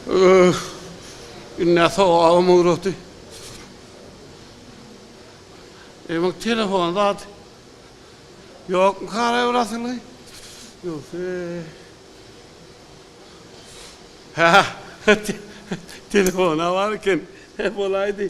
Öh. Indi sogabym ugratdy. Eýmek telefon zat. Ýokmy kara bir asylgy? Ýogsa. Ha. Telefona bar eken. He bolaýdy.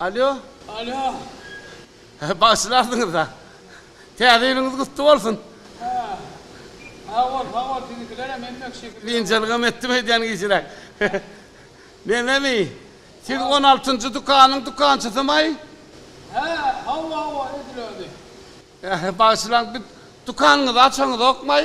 Alýo. Alýo. Bagyşlarsyňyz-da. Täze ýylyňyz gutly bolsun. Hä. Sag bol, sag bol. Siziňkilerem hemmek şekilli. Biynjalygam etdim öýdýän gijräk. Menemi? Siz on altynjy dükanyň dükançysymaý? Hä, hawa, hawa, edil özi. Bagyşlaň, dükanyňyzy açaňyzokmaý?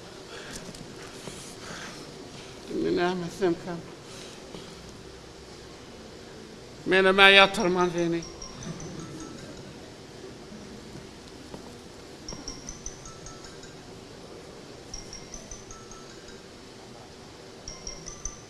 Indi näme etsemkäm? Menem-ä ýatyrman seni.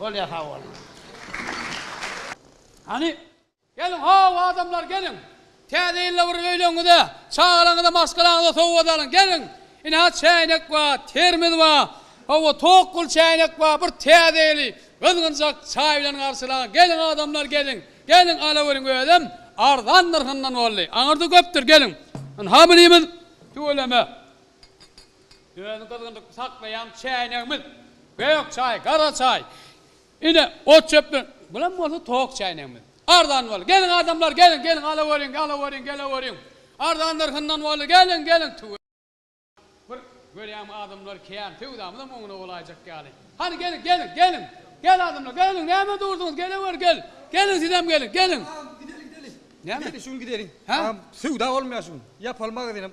Bolýa sag boluň. Hany geliň how adamlar geliň täze ýylda bir öýleňňize çagalaňňyza maşgalaňňyza sowgat alyň geliň ine ha çäýnek ba termiz ba hawa tok pul çäýnek ba bir täze ýyly gyzgynjak çaý bilen garşylaň geliň adamlar geliň geliň alaweriň özem arzan nyrhyndan boldy aňyrda köpdür geliň ynha birimiz tüweleme Özi gyzgynlykda saklaýan çäýnegimiz, gök çaý, gara çaý, ine, ot-çöp bilen, bulam bolsa tok çäýnegimiz. Arzan boldy. Geliň, adamlar, geliň, geliň, alaweriň, alaweriň, geleweriň. Arzan nyrhyndan boldy. Geliň, geliň, tüwä. Bir görýäňmi, adamlar kän, söwdamyzam oňuna bolaýjak ýaly. Hany, geliň, geliň, geliň. Gel, adamlar, geliň, näme durduňyz, gelewer, gel. Geliň, sizem geliň, geliň. Agam, gideliň, gideliň. Näme? Gideliň, gideliň. Agam, söwda bolmaýar şu gün. Ýapaly magazynam.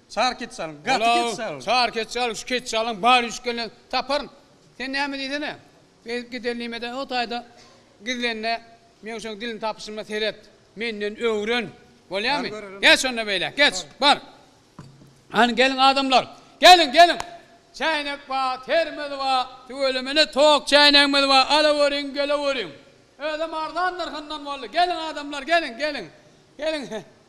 Çar ketçalyň, gaty ketçalyň. Çar ketçalyň, şu ketçalyň bar üýşgeninden taparyn. Sen näme diýsene, beýdip gider nimede, o taýda gizlenme, Meňşeň dilini tapyşyma seret, menden öwren, bolýamy? Geç onda beýle, geç, bar! Hany, geliň adamlar, geliň, geliň! Çäýnek bar, termos bar, tüweleme ine tok çäýnegimiz bar, alaweriň, geleweriň! Özem arzan nyrhyndan boldy, geliň adamlar, geliň, geliň! Geliň,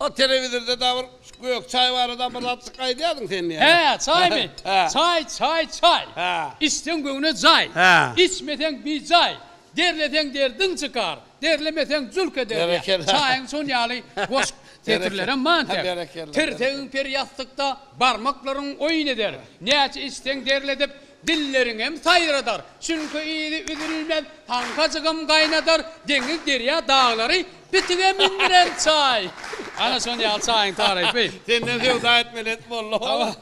O telewizorda da bir gök çaý barada bir zatjyk aýdýardyň sen diýýän. Hä, çaýmy? Çaý, çaý, çaý. Içseň göwne jaý. Içmeseň bijaý. Derleseň derdiň çykar. Derlemeseň jülk eder. Çaýyň şon ýaly goş setirlerem mantek. Tirsegiň per ýassykda, barmaklaryň oýun eder. Näçe içseň derledip, dilleriňem saýradar. Çünki yzy üzülmez, haňkajygam gaýnadar. Deňiz derýa daglary Bitige mindiren çaý. Ana şon ýaly çaýyň tarypy. Senden söwda etmeli et boldy howa.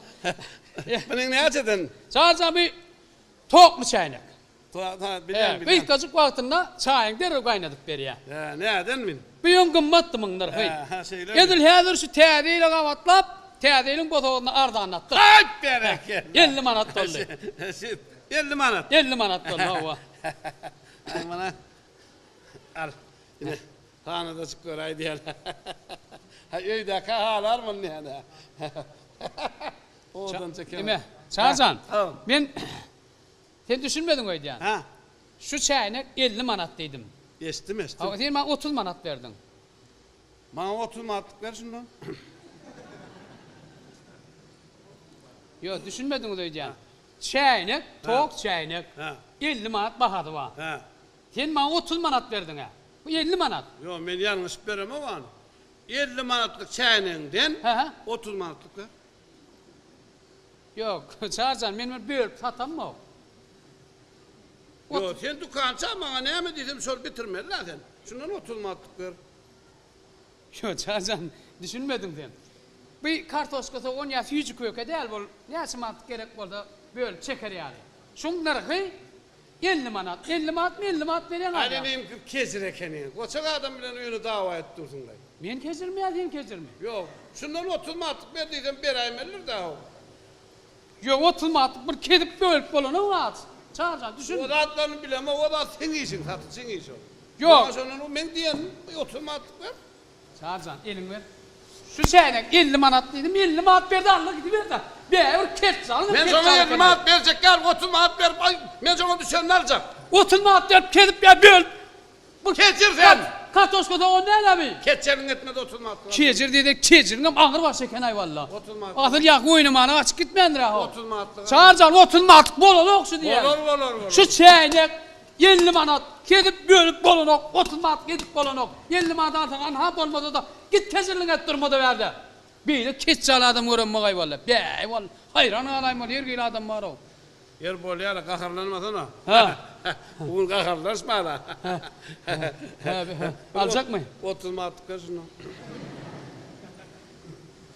Munyň näçeden? Çaýja bi tokmy çäýnek. Bilýän bilýän. Gysgajyk wagtynda çaýyň derrew gaýnadyp berýä. Hä näden min. Bu ýöň gymmatdy munlar hyý. Hä şeýlemi. Edil häzir şu täze ýyla gabatlap täze ýylyň bosagyny arzanlatdyk. Haýp berekella. Elli manat boldy. Elli manat. Elli manat boldy howa. Muny al. Ine, hanadajyklar aýdýarlar. Haý, öýdäkä halar muny nädä? Owadanç eken. Ine, Çary jan, men Sen düşünmediň öýdýän. Hä? Şu çäýnek elli manat diýdim. Eşitdim, eşitdim. Hawa, sen maňa otuz manat berdiň. Maňa otuz manatlyk ber şunda. Ýok, düşünmediňiz öýdýän. Çäýnek, tok çäýnek. Hä. Elli manat bahasy bar. Hä. Sen maňa otuz manat berdiň-ä. Bu elli manat. Ýok, men ýalňyşyp beremok ony. Elli manatlyk çäýnegiňden otuz manatlyk ber. Ýok, Çary jan, men muny bölüp satammok. Ýok, sen dükança maňa näme diýsem şony bitirmeli-dä sen. Şundan otuz manatlyk ber. Ýok, Çary jan, düşünmediň sen. Bu kartoşka sogan ýa süýji köke däl, bul näçe manatlyk gerek bolsa bölüp çeker ýaly. Şuň nyrhy Elli manat, elli manatmy elli manat berýäň Aý aýa. meňki kejir ekeni. Goçak adam bilen öýüne dawa edip dursuňlaý. Men kejirmi ýa sen kejirmi? Ýok. Şundan otuz manatlyk ber diýsem beräýmelidir-dä ol. Ýok otuz manatlyk bir kezip bölüp bolanyň az. Çary jan düşün. O zatlaryny bilemok o zat seň işiň satyjyň işi ol. Ýok. Maňa şondan meň diýenim otuz manatlyk ber. Çaryjan, eliňi ber. Şu çäýnek elli manat diýdim, elli manat berdi, aldy gidiberdi-ä. Bägibir kert jalyňam kert jaly eken. Men şoňa elli manat berjek dälmi, otuz manat berip, aý, men şoňa düşenini aljak. Otuz manat berip kezip ýa bölüp. Bu kejir sen. Kartoşka sogan dälemi? Kejiriň etmez otuz manat kilo. Kejir diýsek, kejiriňem agyr baş eken-aý walla. Otuz manat. Asyl ýa oýnamana gaçyp gitmändir-ä ho. Otuz manatlyk. Çaryjan, otuz manatlyk bolanok şu diýen. Bolar, bolar, bolar. Şu çäýnek Elli manat, kesip bölüp bolanok, otuz manat kesip bolanok, elli manat alsaň anha bolmasa-da git kesirligiňi et durmada bärde. Beýle keçje al adam gören bagaý walla. Bäý wall, haýran galaýyn wall, her hili adam bar-ow. Ýeri bolýar-a, gaharlanmasana. Bu gün gaharlanyşma-da. Aljakmy? Otuz manatlyk ber şunda.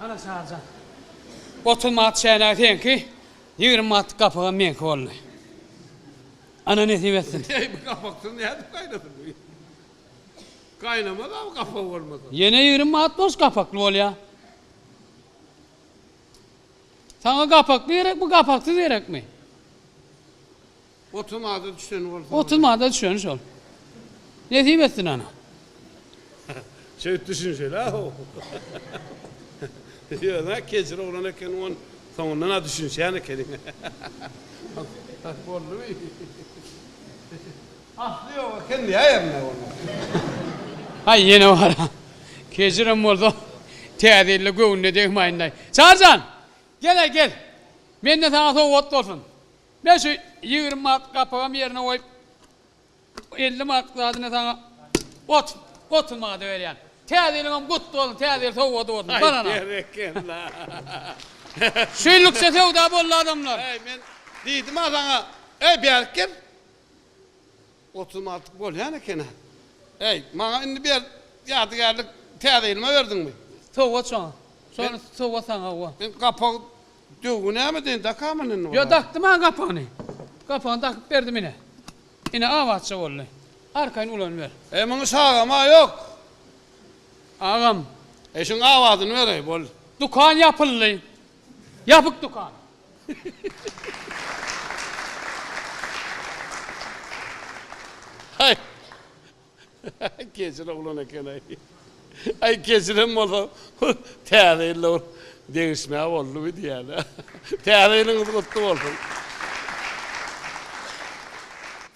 Ana Çaryjan. Otuz manat çäýnegi seňki, ýigrimi manatlyk gapygam meňki boldy. Ana nesip etsin. Eý bu gapaksyz nädip gaýnasyn bu? Gaýnamaz-a bu gapak bolmasa. Ýene ýigrimi manat boş gapakly bolýa. Saňa gapakly gerek bu gapaksyz gerekmi? Otum ada düşen bolsa. Otum ada düşen şol. Nesip etsin ana. Şeýt düşün şeýle ho. Ýöne kejir oglan ekeniň on soňundan a düşünşýän ekeniň. Has boldumy? Asly ýok eken ýa ýerinde onda. Haý ýene bar. Kejirem bolsa Täze ýylda göwnüne degmaýyndaý. Çaryjan! Gel-aý gel. Menden saňa sowgat bolsun. Men şu ýigrimi manatlyk gapygam ýerine goýup, elli manatlyk zadyny saňa otuz, otuz manada berýän. Täze ýylyňam gutly bolsun, täze ýyl sowgady bolsun, banana! Aý, berekella! Şu ýyllyk-şa söwda boldy, adamlar! Äý, men diýdim-ä saňa, äý, bärik gel! Otuz manatlyk bolýan eken-ä. Äý, maňa indi ber, ýadygärlik, täze ýylyma berdiňmi? Sowgat şoňa. Şony sowgat saňa owa. Men gapag döwgi näme deýin, dakamyn indi bulara? Ýo, dakdy maňa gapagyny. Gapagyny dakyp berdim ine. Ine, abatja boldy. Arkaýyn ulanyber. Äý, muny çagama ýok. Agam. Äý, şuň abadyny ber-äý, boldy. Dükan ýapyldy. Ýapyk dükan. Aý. Keçil oglan eken-aý. Aý keçilem bolsa Täze ýylda bir degişme boldy bu diýýän-ä. Täze ýylyňyz gutly bolsun.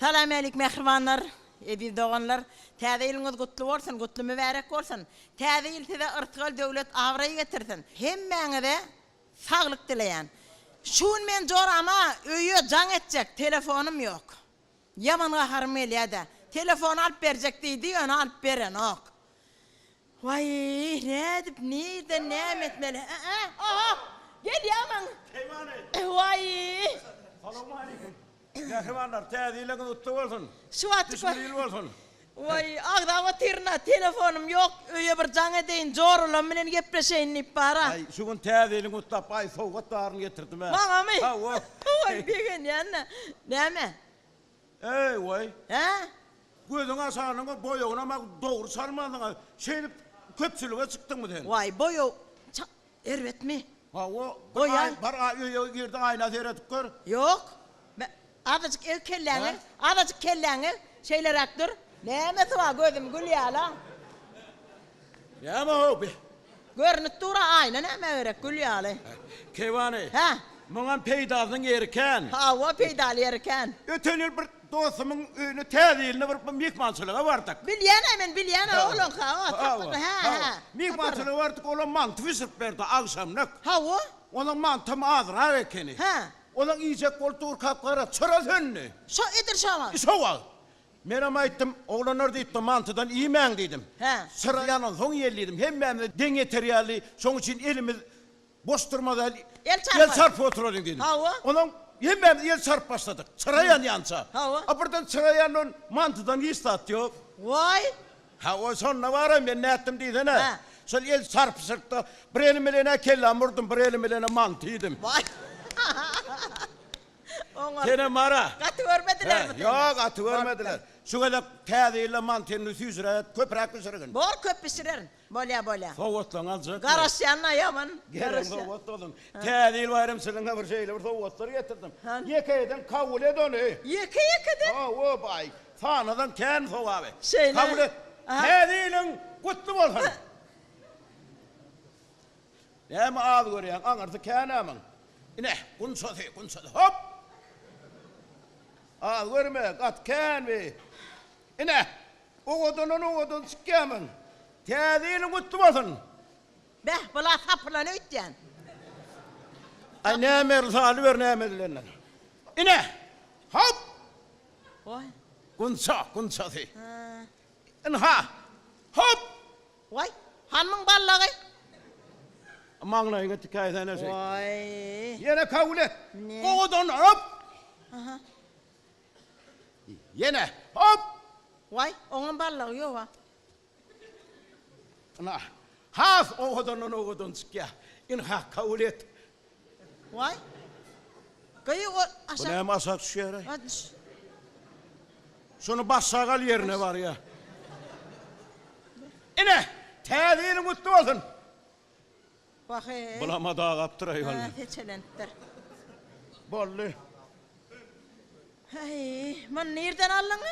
Salam älik mähribanlar. Eziz doganlar, Täze ýylyňyz gutly bolsun, gutly mübärek bolsun! Täze ýyl size yrtgal döwlet, abraý getirsin! Hemmäňize saglyk dileýän. Şu gün men jorama öýe jaň etjek telefonym ýok. Ýaman gaharym gelýädä. Telefon alyp berjek diýdi, ýöne alyp berenok. Waý, nädip, nirden, näme etmeli? Ä-ä, a-a, gelýämiň? Peýman et! Waý! Salowmaleýkim, mähribanlar, Täze ýylyňyz gutly bolsun! Şu wagtky. Düşümli ýyl bolsun! Waý, agzap otyryn-a, telefonym ýok, öýe bir jaň edeýin, joralam bilen gepleşeýin diýip bar-a. Aý, şu gün Täze ýylyňy gutlap, aý, sowgat baryny getirdim-ä. Maňamy? Hawa. Waý, begenýän-ä. Näme? Eý, waý! Hä? Gözüňi açanyňda boýagynam-a dogry çalmandyň-a. Şeýdip, köpçülige çykdyňmy sen? Waý, boýag çal erbetmi? Hawa, bir aý, bar öýe gir-de, aýna seredip gör. Ýok. Mä, azajyk eg kelläňi, azajyk kelläňi, şeýleräk dur. Nämesi bar, gözüm gülýär-le. Näme howpy? Görnüp dur-a, aýna nämä gerek, gül ýaly. Keýwany. Hä? Muňam peýdasynyň ýeri kän. Hawa, peýdaly ýeri kän. Öten ýyl bir dostumyň öýüne Täze ýylda bir myhmançylyga bardyk. Bilýän-ä men, bilýän-ä oglan, hawa, tapyr, hä, hä, tapyr. Myhmançylyga bardyk, olam manty bişirip berdi, agşamlyk. Hawa. Onuň mantym azrak ekeni. Hä. Olam iýjek bolup durkap gara, çyra söndi. Şo edir şo wagt? Şo wagt. Menem aýtdym, Oglanlar diýipdir, mantydan iýmäň diýdim. Çyra ýanansoň iýeli diýdim. Hemmämize deň ýeter ýaly, şoň üçin elimiz boş durmasaýyl, el çarpyp oturalyň diýdim. Onuň hemmämiz el çarpyp başladyk, çyra ýanýança. A birden çyra ýandan mantydan hiç zat ýok. Waý! Hawa, şonda bar-a men nätdim diýsene. Şol el çarpyşykda bir elim bilen-ä kellämi urdum, bir elim bilen-ä manty iýdim. Waý! Senem ara. Gaty görmedilermi seni? Ýok, gaty görmediler. Şu gezek Täze ýylda mantyny süýşüre, köpräk bişirgin. Bor, köp bişirerin. Bolýa, bolýa. Sowgatlaň aljakmy? Garaşýan-a ýaman. Garaşýan. Gelen sowgat bolsun. Täze ýyl baýramy çynyňa bir şeýle bir sowgatlar getirdim. Ýeke-ýeden kabul et ony. Ýeke-ýekeden? Hawa, baý. Sanadan kän sogaby. Şeýle. Kabul et. Täze ýylyň gutly bolsun! Näme az görýäň, aňyrsy kän amyň. Ine, gunçasy, gunçasy, hop! Az görme, gaty kän bi. Ine, owadandan owadan çykýamyň. Täze ýylyň gutly bolsun! Beh, bula sapylan öýtýän. Aý, nämedir salyber näme edilenden. Ine, hop! Oý! Gunça, gunçasy. Ynha, hop! Waý, hanmyň ballagy? Maňlaýyňa tikäýsene şeýdip. Waý. Ýene kabul et. Ne? Owadan hop! Aha. Ýene hop! Waý, oňam ballagy ýog-a. Ynha, has owadandan owadan çykýar. Ynha, kabul et. Waý. Gyýy o aşak. Bu näme aşak düşýäre? Waý düş. Şony başa gal ýerine barýa. Ine, täze ýylyň gutly bolsun. Waheý. Bulama dagapdyr aý walla. Heçelenipdir. Boldy. Heý, muny nirden aldyň?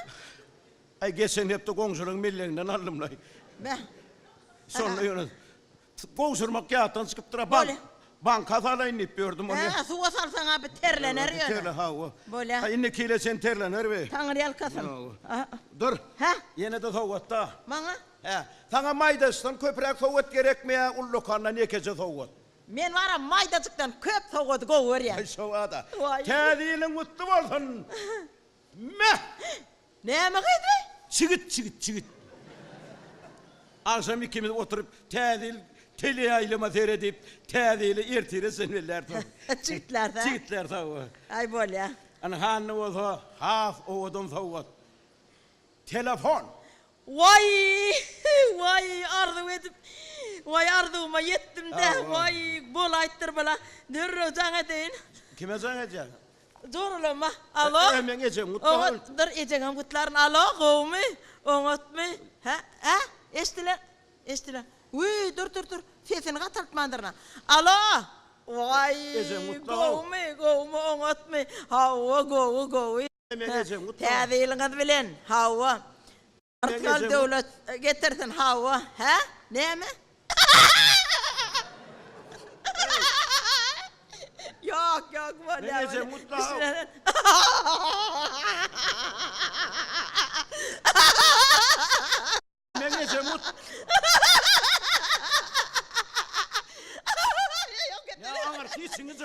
Aý geçen hepde goňşynyň melleginden aldymlaý. Beh. Şonda ýöne Syk gowşurmak ýatdan çykypdyra bank Bolýa. banka salaýyn diýip ýördüm ony. Hä-hä suwa salsaň abi terlener ýöne. Terle hawa. Bolýa. Ha indi kile çen terlener bi. Taňyrýalkasyn. Ýa. Dur. Hä? Ýene-de sowgatda. Maňa? Hä. Saňa maýdaçdan köpräk sowgat gerekmi ýa ullakandan ýekeje sowgat? Men baram maýdajykdan köp sowgady gowy görýän. Aý şobada. Waý. Täze ýylyň gutly bolsun. Me! Näme gyzy? Çigit, çigit, çigit. Agşam ikimiz oturyp Täze ýyl teleýaýlyma seredip, Täze ýyly ertire sen bellärsň. Çigitler-dä. Çigitler sowga. Aý, bolýa. Ynhanda bolsa has owadan sowgat. Telefon. Waý! Waý! Arzuw edip, waý, arzuwyma ýetdim-dä, waý! Bolaýypdyr bula. Dürrüw jaň edeýin. Kime jaň edýäň? Joralama. Alo! Ä, meň ejem, gutlag al. Oňat, dur, ejeňem gutlaryn. Alo, gowumy? Oňatmy? Hä? Ä? Eşdiler. Eşdiler. Wüý, dur, dur, dur. Sesini gataltmandyryn-a. Alo! Waý! Ejem, gutlag al. Gowumy? Gowumy, oňatmy? Hawa, gowy, gowy. Täze ýylyňyz bilen! Hawa. Artgal döwlet getirsin. Hawa. Hä? Näme? Ýok, ýok, bolýar, bolýar. Düşünmedi.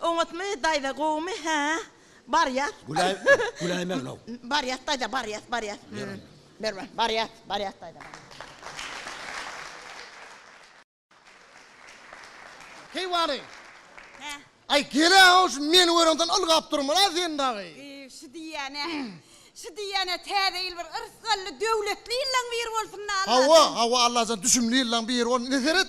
Oňatmy daýza gowymy hä barýas. Güläý güläýmegin how. Barýas daýza barýas barýas. Berme barýas barýas daýza barýas. Heý wani. Hä. Aý gelä how şu meni görenden ylgap durmana sen dagy. Ýy şu diýýänä şu diýýänä täze ýyl bir yrsgally döwletli ýyllaň biri bolsun Allah. Hawa hawa Allajan düşümli ýyllaň biri bolsun ine seret.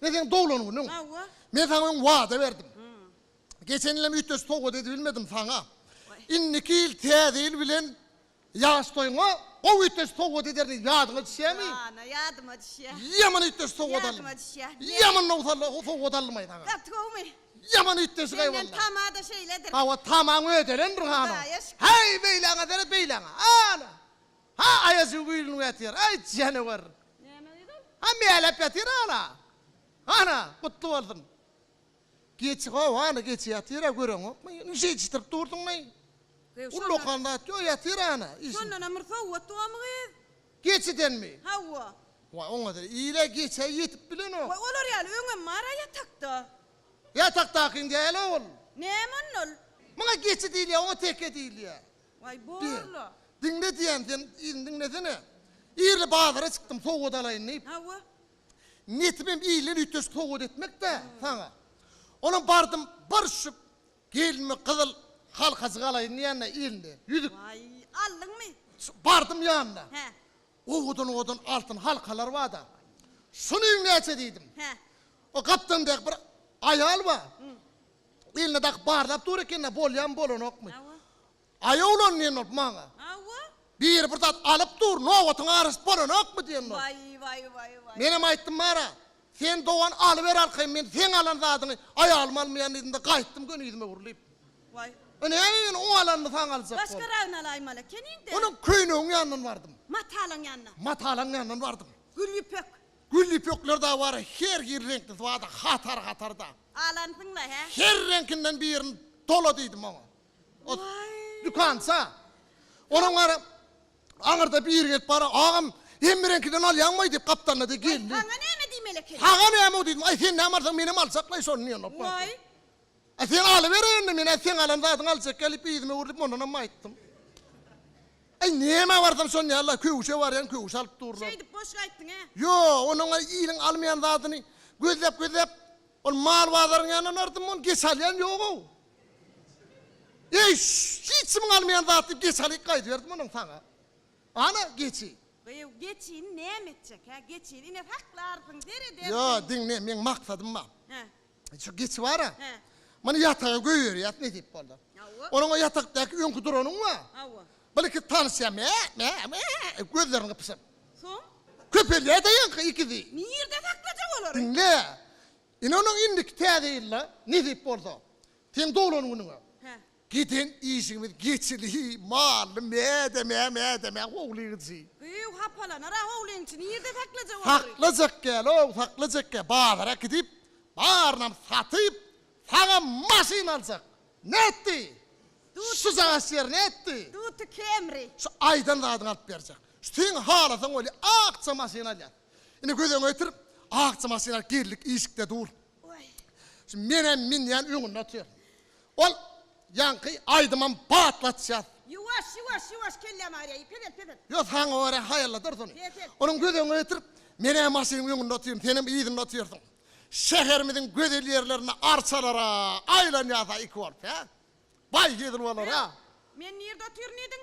Men seň doglan günüň. Men saňa öň wada berdim. Geçen ýylam üýtgeşik sowgat edibilmedim saňa. Indiki ýyl täze ýyl bilen ýaş toýuňa gowy üýtgeşik sowgat ederini ýadyňa düşýärmi? Ana, ýadyma düşýär. Ýaman üýtgeşik sowgat aldym. Ýadyma düşýär. Ýaman nowsalla sowgat aldymaý saňa. Gaty gowymy? Ýaman üýtgeşik aý walla. Senden tama-da şeýledir. Hawa, tamaň ödelendir hany. Daýaşk. Häý, beýläňe seret, beýläňe. Ana! Ha, aýajygy güýlünip ýatyr. Aý, janawar! Näme gyz ol? Ha, mäläp ýatyr ana. Ana, gutly bolsun. Geçi gowy, ana, geçi ýatyr-a, göreňokmy? Nji eşitdirip dursuň näý? Gyz, şondan. Ullakan zat ýok, ýatyr ana. Şondanam bir sowgat gomy gyz? Geçidenmi? Hawa. Waý, oňa-da ile geçä ýetip bilenok. Waý, olar ýaly öňem bar-a ýatakda. Ýatakdakyň däl-ow ol. Näme onda ol? Muňa geçi diýilýär, oňa teke diýilýär. Diýýä. Diňle diýýän, sen yzyny diňlesene. Irli bazara çykdym, sowgat alaýyn diýip. Hawa. Niýetimem ille üýtgeşik sowgat etmek-dä saňa. Onam bardym, bir şu gelinime gyzyl halkajyk alaýyn diýen-de ille, ýüzük. Waý, aldyňmy? Bardym ýanyna. Hä. Owadan-owadan altyn halkalar bar-da. Şunuň näçe diýdim. Hä. O gapdalyndaky bir aýal bar. Eline dakyp barlap dur ekeni bolýamy bolanokmy. Hawa. Aýawlan diýen bolup maňa. Hawa. Biri bir zat alyp dur nobatyň garaşyp bolanokmy diýen bolup. Waý waý waý waý. Menem aýtdym Mara sen dogan alyber arkaýyn men seň alan zadyňy aýalym almaýan diýdimde gaýtdym göni ýüzüme gurlyp. Waý. Ine näme men oň alanyny saňa aljak bolup. Başgaragyny alaýmaly ekeniňdä. Onuň köýnegiň ýanyndan bardym. Matalaň ýanyna. Matalaň ýanyndan bardym. Gül ýüpek. Gül ýüpekler-de bar, her hil reňklisi bar-da, hatar-hatarda. Alansyň-la, hä? Her reňkinden birini dola diýdim oňa. O dükança. Olam gara aňyrda biri gelip bara, Agam, hemme reňkiden alýaňmaý? diýip, gapdalynda de geldi. Saňa näme diýmeli ekeni? Saňa näme-ow diýdim. Aý, sen näme alsaň, menem aljakla-aý şony diýen bolup bardy. A sen alyber indi men a seň alan zadyňy aljakka diýip yzyma öwrülip mondanam aýtdym. Aý nämä barsam şonda ýaly-la köwüşe barýan köwüş alyp durlar. Şeýdip boşga aýtdyň-a. Ýok ony oňa iliň almaýan zadyny gözläp gözläp ol mal bazaryň ýanyna bardym ony geç alýan ýog-ow. Eý hiç kimiň almaýan zat diýip geç alyp gaýdyberdim onam saňa. Ana geçi. Gyýw geçini näme etjek-hä geçini ine saklarsyň seret ertir. Ýok diňle meň maksadym bar. Hä. Şu geçi bar-a. Hä. Muny ýataga goýberýäs nesip bolsa. Hawa. Onuň o ýatakdaky öňki duranyň bar. Hawa. Birki tanyşýar, mä, mä, mä, edip gözlerini gypyşyp. Soň? Köpelýär daýanka ikisi. Nirde saklajak olary? Diňle. Ine onuň indiki täze ýylda, nesip bolsa. Seň doglan günüňe. Hä. Giden işiňiz geçili mally mädemä mädemä howlygyjy. Gyýw hapalanar-a howlygyňçy nirde saklajak olary. Saklajak gälow saklajak gä bazara gidip barynam satyp saňa maşyn aljak. Nätdi? Şu jagaş ýer nätdi? Duty Camry. Şu aýdan zadyňy alyp berjek. Şu seň halasaň weli akja maşyn alýas. Ine göz öňe getir akja maşyn al girlik işikde dur. Şu menem minýän öňünde otyryn. Ol ýaňky aýdymam batlatýar. Ýuwaş, ýuwaş, ýuwaş kellämi aýraýy, peset, peset. Ýo saňa görä haýalladyrys ony. Peset. Onuň göz öňüne getirip, menä maşynyň öňünde otyryn, senem yzynda otyrsyň. Şäherimiziň gözel ýerlerinde arçalara aýlanýas-a iki bolup, hä? Baý hezil bolar-a. Men nirde otyryn diýdiň?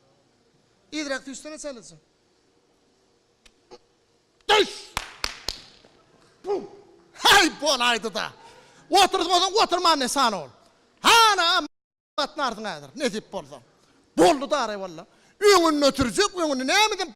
Yzyrak düşsene çalyjy. Düş! Puh! Heý, bolaýdy-da. Oturtmasaň oturman ne san ol. Hana, a-m gatnarsyň häzir, nesip bolsa. Boldy-da, arewolla. Öňünde ötürjek, öňünde nämeden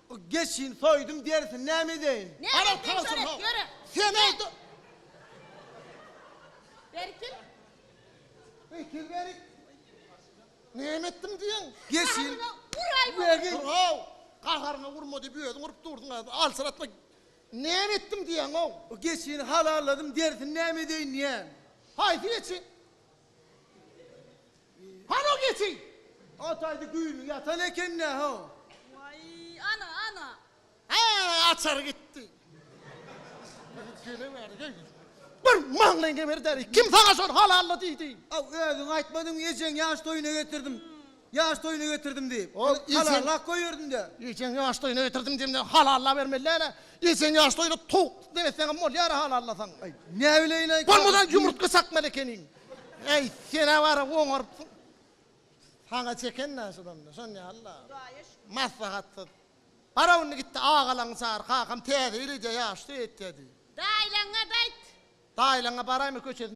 Geçin soýdum derisini näme edeýin. Näme etseň şony et ýöre. Sen aýt. Berkil. Berkil berik. Näme etdim diýeň. Geçin. Uraýmaly. Uraw. Gaharyňa urma diýip özüň urup durdyň a. Alçyratma. Näme etdim diýeň-ow. Geçini halalladym derisini näme edeýin diýen. Haýsy geçi? Hana geçi! Ataýdy güýni ýatan eken-dä, ho! Waý, ana, ana! Hä, açar gitdi! Bir maňlaýyň geberi däl-eý! Kim saňa şony halalla diýdi? Haw, özüň aýtmadyňmy, ejeň ýaş toýuna getirdim. Ýaş toýuna getirdim diýip, halallap goýberdiň-dä. Ejeň ýaş toýuna getirdim diýende halallabermeli-dä-le. Ejeň ýaş toýuna towuk deňetseňem bolýar-a halallasaň. Aý, näbileýin-aý. Bolmasa ýumurtga çakmaly ekeniň. Äý, sen-ä bar-a oňarypsyň. Saňa çeken-dä şudan-da, şon ýaly-la. Maslahatsyz. Bar-a indi git-de agalaňy çagyr, kakam täze ýyl edýär, ýaşy toý etýär diý. Daýlaňňa-da aýt. Daýlaňňa baraýma köçesine.